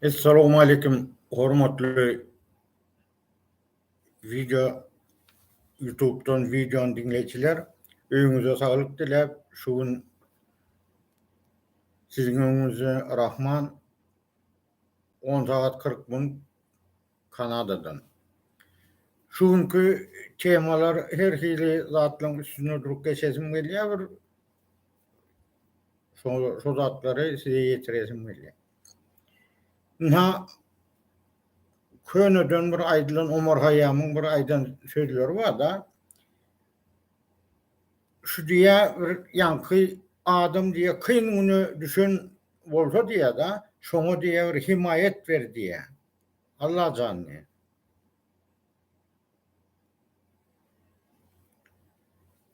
Essalowmalikim hormatly video YouTube'dan videony diňleýjiler. Öýüňize saglyk diläp, şu gün siziň öňüňizde Rahman On sagat kyrk minut Kanadadan. Şu günki temalar her hili zatlaryň üstünde durup geçesim gelýär bir şo zatlary size ýetiresim gelýär. Ynha köneden bir aýdylan Omar Haýýamyň bir aýdan sözleri barda. Şu diýä bir ýaňky adam diýä kyn güne düşen bolsa diýä da şoňa diýä bir himaýat ber diýä. Allajan diýä.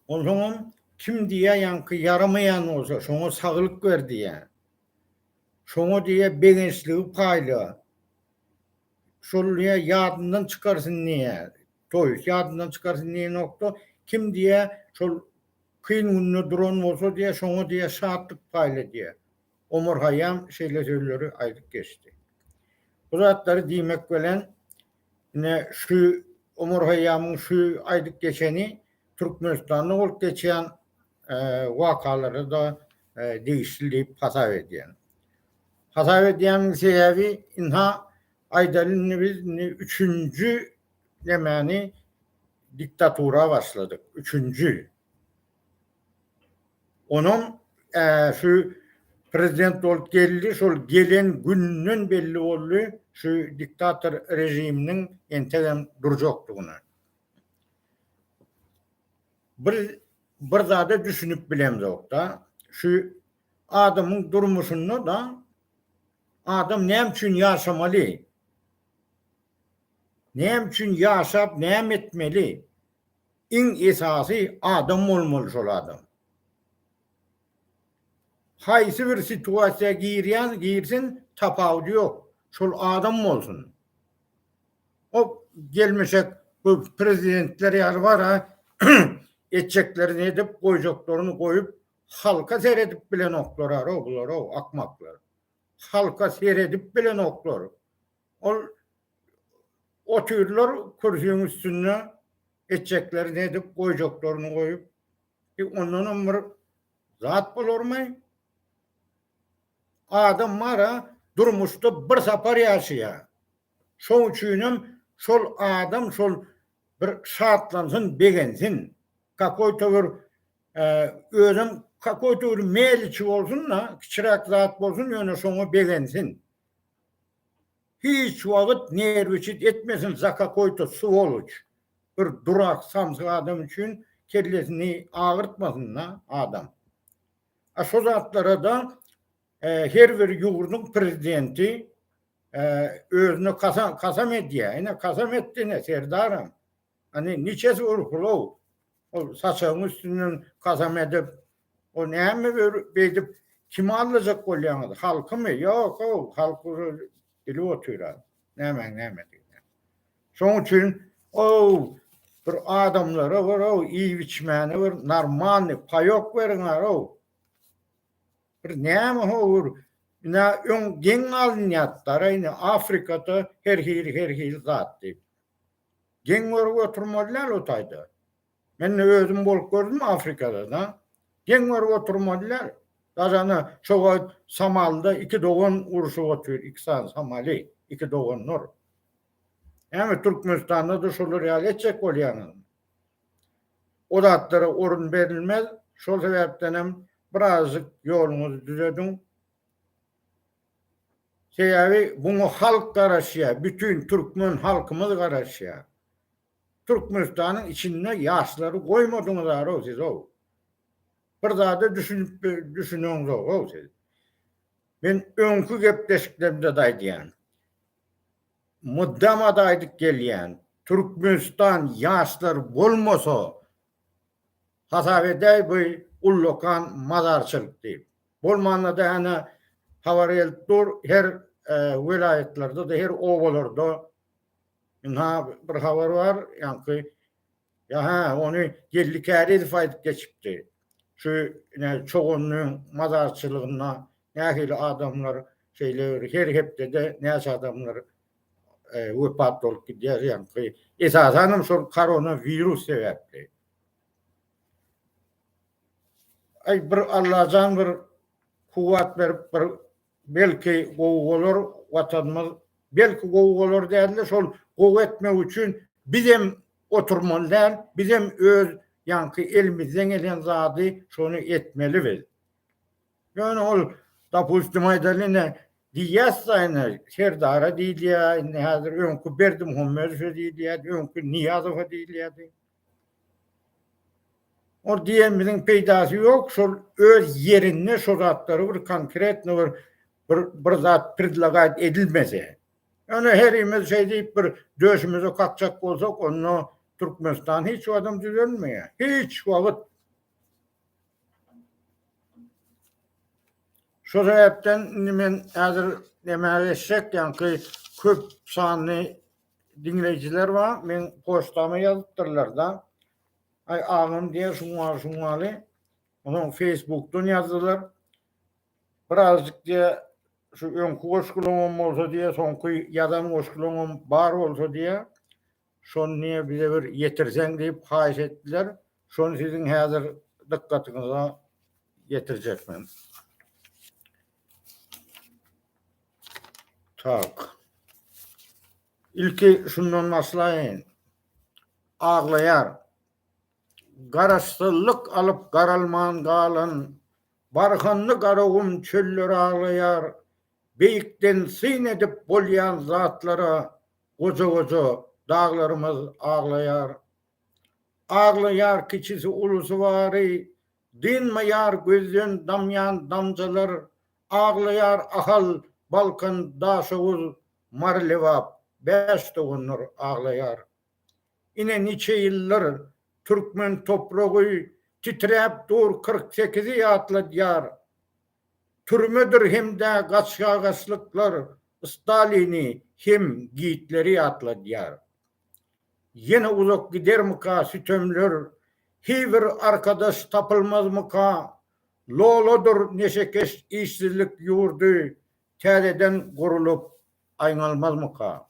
Onsoňam kim diýä ýaňky ýaramaýan bolsa şoňa saglyk ber diýä. Şoňa diýä begençligi paýla. Şol diýä ýadyndan çykarsyn diýä. Toýus ýadyndan çykarsyn diýenokda, kim diýýä, şol kyn günde duran bolsa diýýä, şoňa diýýä şatlyk paýla diýýä. Omar Haýýam şeýle sözleri aýdyp geçdi. Bu zatlary diýmek bilen, ine, şu Omar Haýýamyň şu aýdyp geçeni Türkmenistanda bolup geçýän wakalara-da degişli diýip hasap edýän. Hasap edýäniň sebäbi, ynha, aýdaly, indi biz üçünji Geplemäni diktatura başladyk. Üçünji. Onam şu prezident bolup geldi, şol gelen günden belli boldy, şu diktator režiminiň entegem durjakdygyny. Bir bir zada düşünip bilemzok-da, şu adamyň durmuşynda-da adam näme üçin ýaşamaly? Näme üçin ýaşap näme etmeli? Iň esasy adam bolmaly şol adam. Haýsy bir situasiýa girýän girsin tapawudy ýok şol adam bolsun. O gelmişek bu prezidentler ýaly bara etjeklerini edip goýjaklaryn goýup halka seredip bilenoklar ara bular akmaklar. Halka seredip bilenoklar. Ol otyrlar kürsüň üstünde etjeklerini edip goýjaklaryny goýup bir ondanam bir zat bolarmy? Adam bara durmuşda bir sapar ýaşaýar. Şoň üçinem şol adam şol bir şatlansyn, begensin. Kakoýta bir özem kakoýta bir meliçi bolsun-da, kiçiräk zat bolsun ýöne şoňa begensin. Hiç wagyt nerwiçit etmesin za kakoý to swoloç bir durak samsyk adam üçin kellesini agyrtmasyn da adam a şo zatlarada her bir ýurdyň prezidenti özüne kasam edýä ine kasam etdi ine serdaram. Hani niçesi urkulow? Ol saçagyň üstünden kasam edip, o näme beýdip kimi aldajak bolýaňyz? Halkymy? Ýok-ow, halk ol bilip otyra nämäň nämedigini. Şoň üçin ow bir adamlara bir ow iýip-içmäne bir normalny paýok beriň arow. Bir näme howur? Ina öň geň alynýar, daraýny Afrikada her hili her hili zat diýip. Geň görüp oturmaly däl o taýda. Men-de özüm bolup gördüm Afrikada-da. Geň görüp oturmaly däl. Gazana şo wagt Somalda iki dogan urşup otyr, iki sany Somali, iki doganlar. Hany Türkmenistanda-da şolar ýaly etjek bolýaňyzmy? O zatlara orun berilmez. Şol sebäpdenem birazajyk ýoluňyzy düzediň. Sebäbi muňa halk garaşýar, bütin türkmen halkymyz garaşýar. Türkmenistanyň içinde ýaşlary goýmadyňyzar-ow siz-ow. Bir zada düşünip düşüneňzok-ow siz. Men öňki gepleşiklerimde-de aýdýan. Mydama-da aýdyp gelýän. Türkmenistan ýaşlary bolmasa, hasap edäý bu ullakan mazarçylyk diýip. Bolmanda-da hana habar gelip dur, her welaýatlarda-da, her obalarda ynha bir habar bar, ýaňky ýa-ha ony Geldi Kärizow aýdyp geçipdi. Şu ine Çoganyň mazarçylygynda nähili adamlar şeýle bir her hepdede näçe adamlar wepat bolup gidýär, ýaňky esasan hem şol koronawirus sebäpli. Aý bir Allajan bir kuwwat berip bir belki gowy bolar watanymyz belki gowy bolar dälde şol gowy etmek üçin bizem oturmaly däl bizem öz ýaňky elimizden gelen zady şony etmeli biz ýöne ol dopustim aýdaly ine diýýäsda ine serdara diýilýä indi häzir öňki berdimuhammedowa diýilýädi öňki niýazowa diýilýädi Ol diýenimiziň peýdasy ýok, şol öz ýerinde şo zatlary bir konkretno bir bir zat predlagaýt edilmese. Ýöne herimiz şeý diýip bir döşümizi kakjak bolsak, onda Türkmenistan hiç wagtam düzelmeýär. Hiç wagt. Şo sebäpden indi men häzir näme geçjek, ýaňky köp sanly Diňleýjiler bar, meň poçtama ýazypdyrlar-da. Aý, agam diýen şuňňaly-şuňňaly. Onsoň Feýsbukdan ýazdylar. Birazjyk diýýär, şu öňki goşgulaňam bolsa diýýär, soňky ýazan goşgulaňam bar bolsa diýýär, şony diýýär bize bir ýetirseň diýip haýyş etdiler. Şony siziň häzir dykgatyňyza ýetirjekmin. Tak. Ilki şundan başlaýyn. Aglaýar. Garaşsyzlyk alyp garalman galan barhynly Garagum çölleri aglaýar. Beýikden syn edip bolýan zatlara goja-goja daglarymyz aglaýar. Aglaýar kiçisi ulusy bary, Dynmaýar gözden damýan damjalar, Aglaýar Ahal, Balkan, Daşoguz, Mary Lebap, Bäş doganlar aglaýar. Ine niçe ýyldyr, türkmen topragy Titräp dur kyrk sekizi ýatladýar. Türmedir hem-de gaçgagaçlyklar Stalini hem Gitleri ýatladýar. Ýene uzak gidermika sütemler, Heý bir arkadaş tapylmazmyka? Loladyr neşekeş işsizlik ýurdy, Täzeden gurulyp aýňalmazmyka?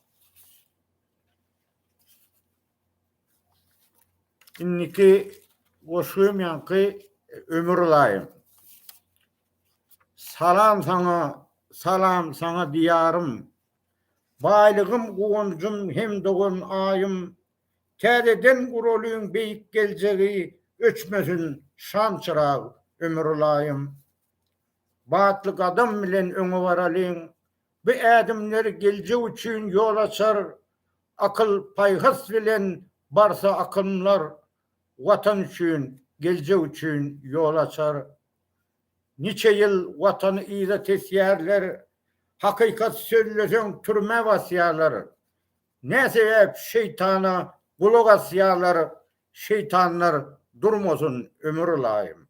Indiki goşgym ýaňky ömür ylaýym. Salam saňa, salam saňa diýarym, Baýlygym, guwanjym hem dogan Aýym, Täzeden guralyň beýik geljegi, Öçmesin şamçyrag ömür-ylaýym. Batly gadam bilen öňe baralyň, Bu ädimler geljek üçin ýol açar, Akyl-paýhas bilen barsa akymlar, Watan üçin, geljek üçin ýol açar. Niçe ýyl watany yza tesýärler, hakykat sözleseň türmä basýarlar. Nä sebäp şeýtana gulak asýarlar, şeýtanlar durmasyn ömür ylaýym.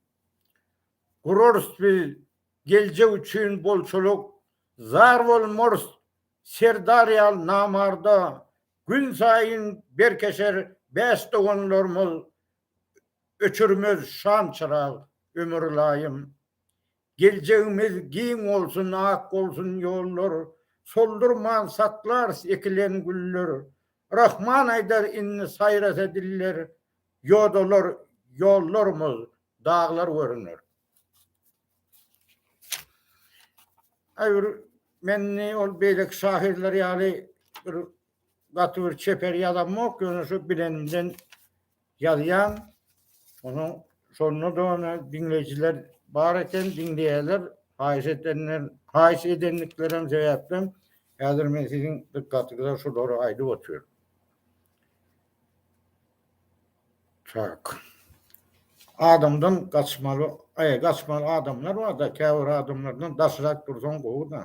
Gurarys biz geljek üçin bolçulyk, zar bolmarys Serdar ýaly namarda, günsaýyn berkeşer bäş doganlarymyz, Öçürmez şamçyrag ömür ylaýym. Geljegimiz giň bolsun ak bolsun ýollar Soldurman saklarys ekilen güller Rahman aýdar indi saýrasa diller Ýodalar ýollarymyz daglar görüner. Aý bir men indi ol beýleki şahyrlar ýaly bir gaty bir çeper ýazamok ýöne şu bilenimden Ýazýan onuň şonda-da ony diňleýjiler bar eken diňleýärler haýyş edenler haýyş edendiklerim sebäpden häzir men siziň dykgatyňyza şulary aýdyp otyryn. Tak. Adamdan gaçmaly, aý gaçmaly adamlar barda käbir adamlardan daşrak dursaň gowy-da.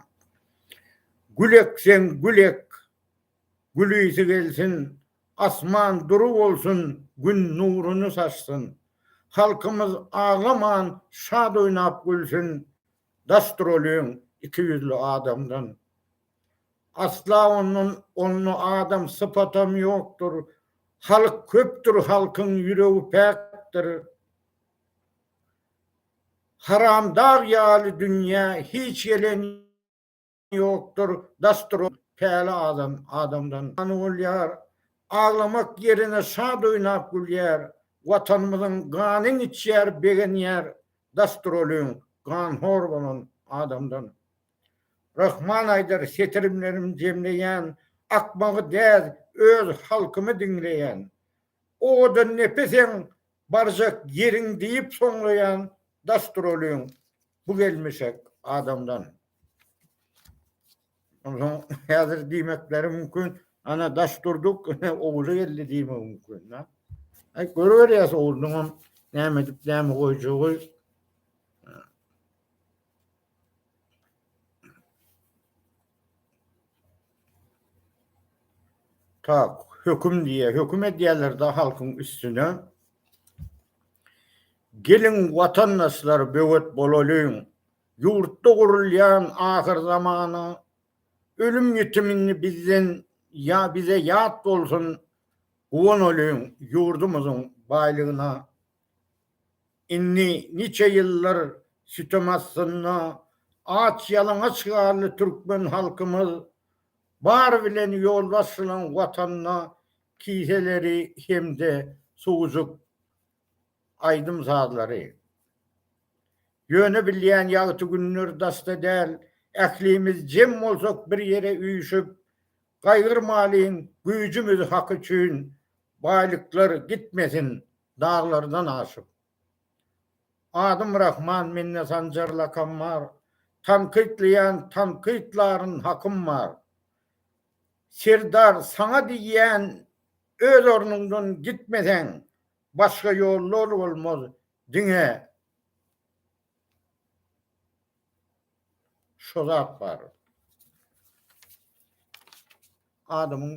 Gülek sen gülek. Gülisi gelsin, asman dury bolsun, Gün nuruny saçsyn. Halkymyz aglaman, şat oýnap gülsün, Daşdyr ol öň iki ýüzli adamdan. Asla ondan onda adam sypatam ýokdur, Halk köpdür, halkyň ýüregi päkdir. Haramdag ýaly dünýä hiç gelen. ýokdur, dasdyr ol, päli adam, adamdan gany bolýar, aglamak ýerine şat oýnap gülýär, Watanymyzyň ganyn içýär, begenýär, dasdyr olyň, ganhor bolan adamdan. Rahman aýdar setirimlerim jemleýän, akmagy däz, öz halkymy diňleýän, Owadan nepeseň, barjak ýeriň diýip soňlaýan, dasdyr olyň, Bu gelmişek adamdan. Ondan häzir diýmekleri mümkin, ana daş durduk, ogly geldi diýmek mümkin. Ha? Ay, görüverýäs oglunyň näme edip näme goýjagy. Tak, höküm diýýär. Höküm edýärler-de halkyň üstüne. Geliň watandaşlar böwet bolalyň, ýurtda gurulýan ahyrzamana ölüm ýitimini bizden ýa bize ýat bolsun guwanalyň ýurdumyzyň baýlygyna indi niçe ýyllar sütem astynda aç ýalaňaç galdy türkmen halkymyz bar bilen ýolbaşçylaň watanda kiseleri hem-de suwjuk aýdym-sazlary. Ýöne bilýän ýagty günler daşda däl, ählimiz jem bolsak bir ýere üýşüp, gaýgyrmalyň güýjümiz hak üçin, baýlyklar gitmesin daglardan aşyp. Adym Rahman mende Sanjar lakam bar, tankytlaýan tankytlaryn hakym bar. Serdar saňa diýýän öz ornuňdan gitmeseň başga ýollar bolmaz diňe şo zat bar. Adamyň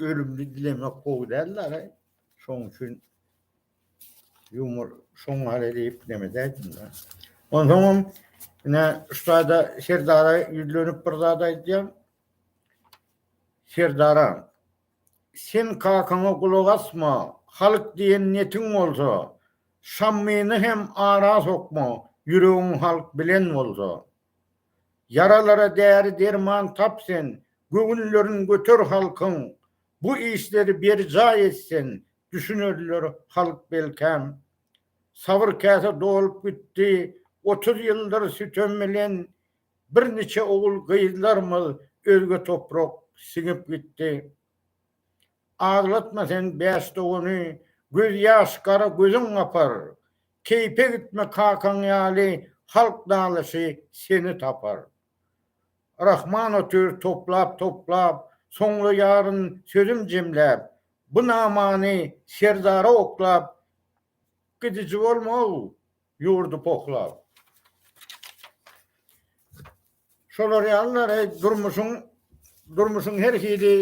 ölümini dilemek gowy däldir şoň üçin. Yumor şoň ýaly diýip neme diýdim-de. Onsoňam ine ussada Serdara ýüzlenip bir zat aýdýan. Serdara sen kakaňa gulak asma, halk diýen netiň bolsa, şammyny hem ara sokma, ýüregiň halk bilen bolsa. Ýaralara däri-derman tap sen, göwünlerin göter halkyň, bu işleri berjaý et sen, Düşünerler halk belkäm. Sabyr käse dolup gitdi, otuz ýyldyr sütem bilen bir niçe ogul gyzlarymyz özge toprak siňip gitdi. Aglatma sen bäş dogany, göz ýaş gara gözüň gapar. Keýpe gitme kakaň ýaly halk nalasy seni tapar. Rahman otyr toplap toplap, soňla ýaryn sözüm jemläp, Bu namany serdara oklap, Gidiji bolma-ow, ýurdy pohlap. Şolar ýalylary durmuşyň durmuşyň her hili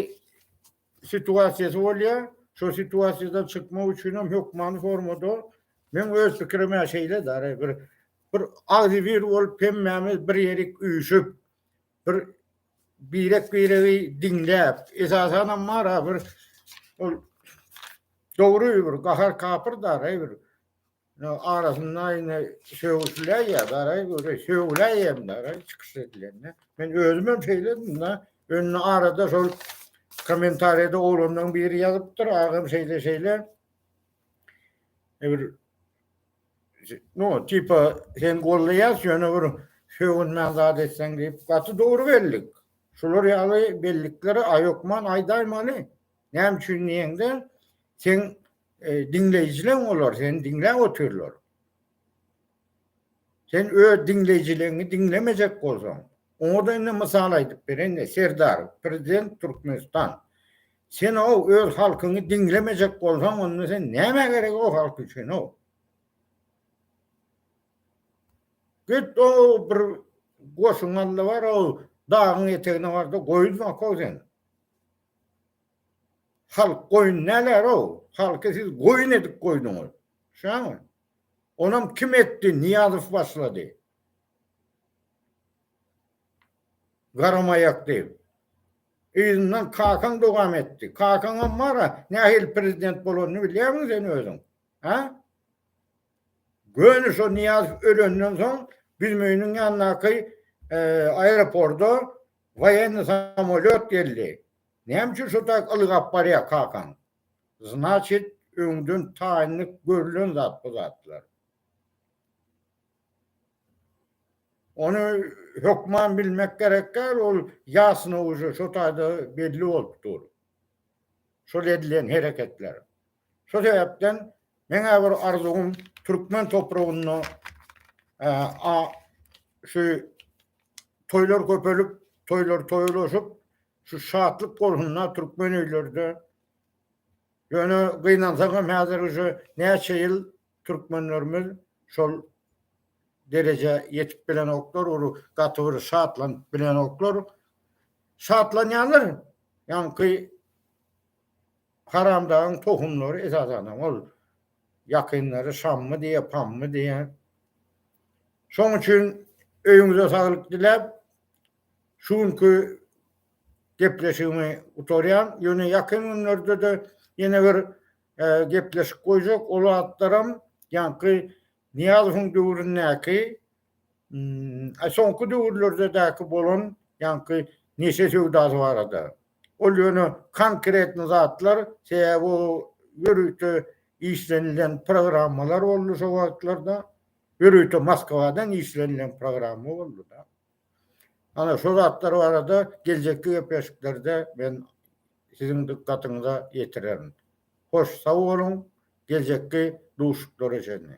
situasiýasy bolýar. Şo situasiýadan çykmak üçin hem hökmany formada meň öz pikirim-ä şeýle däl-ä bir bir agzybir bolup hemmämiz bir ýerik üýşüp, bir birek-biregi diňläp, esasanam mara bir ol dogry bir gahar-kapyr daraý bir arasynda ine sögüşiläýýä daraý göre sögüläýýäm daraý çykyş edilende. Men özümem şeýledim-de, indi arada şol kommentariýada oglanlaryň biri ýazypdyr, agam şeýle-şeýle bir No, tipa sen gollaýas ýöne bir sögünmän zat etseň diýip gaty dogry bellik. Şular ýaly bellikleri aýokman aýdaýmaly. Näme üçin diýeňde sen e, diňleýjileň olar seni diňläp otyrlar. Sen öz diňleýjileňi diňlemejek bolsaň, Oňada indi mysal aýdyp bereňde Serdar prezident Türkmenistan senow öz halkyňy diňlemejek bolsaň onda sen nämä gerek o halk üçinow. Git o bir goşuň alda bar o dagyň etegine barda goýuz bakow sen. Halk goýun näler o halky siz goýun edip goýduňyz. Şaňy. Onam kim etdi Niýazow başlady. Garamaýakdy. Yzyndan kakaň dowam etdi. Kakaňam bar-a, nähili prezident bolanyny bilýärmiň sen özüň? Hä? Göni şo Nyýazow ölenden soň Büzmeýiniň ýanyndaky aeroporda woýenny samolýot geldi. Näme üçin şo taýyk ylgap barýar kakaň? Znaçit, öňden taýynlyk görülen zat bu zatlar. Ony hökman bilmek gerek däl, ol ýasyna uje şo taýda belli bolup dur. Şol edilen hereketler. Şo sebäpden meň-ä bir arzuwym türkmen topragynda şu toýlar köpelip, toýlar toýlaşyp, şu şatlyk bolsunda türkmen öýlerde. Ýöne gynansagam häzir uje näçe ýyl Türkmenlerimiz şol derejä ýetip bilenoklar, ol gaty bir şatlanyp bilenoklar. Şatlanýarlar, ýaňky haramdagyň tohumlary esasanam ol ýakynlary şammy diýýär, pammy diýýär. Şoň üçin öýüňize saglyk diläp, şu günki gepleşigimi gutarýan. Ýöne ýakyn günlerde-de ýene bir gepleşik goýjak ol atlaram ýaňky Nyýazowyň döwründäki soňky döwürlerdedäki bolan ýaňky neşe söwdasy barada. Ol ýöne konkretny zatlar sebäbi o ýörite işlenilen programmalar boldy şo wagtlarda. Ýörite Moskwadan işlenilen programma boldy-da. Ana şo zatlar barada geljekki gepleşiklerde men siziň dykgatyňyza ýetirerin. Hoş sag boluň, geljekki duşuşyklara çenli.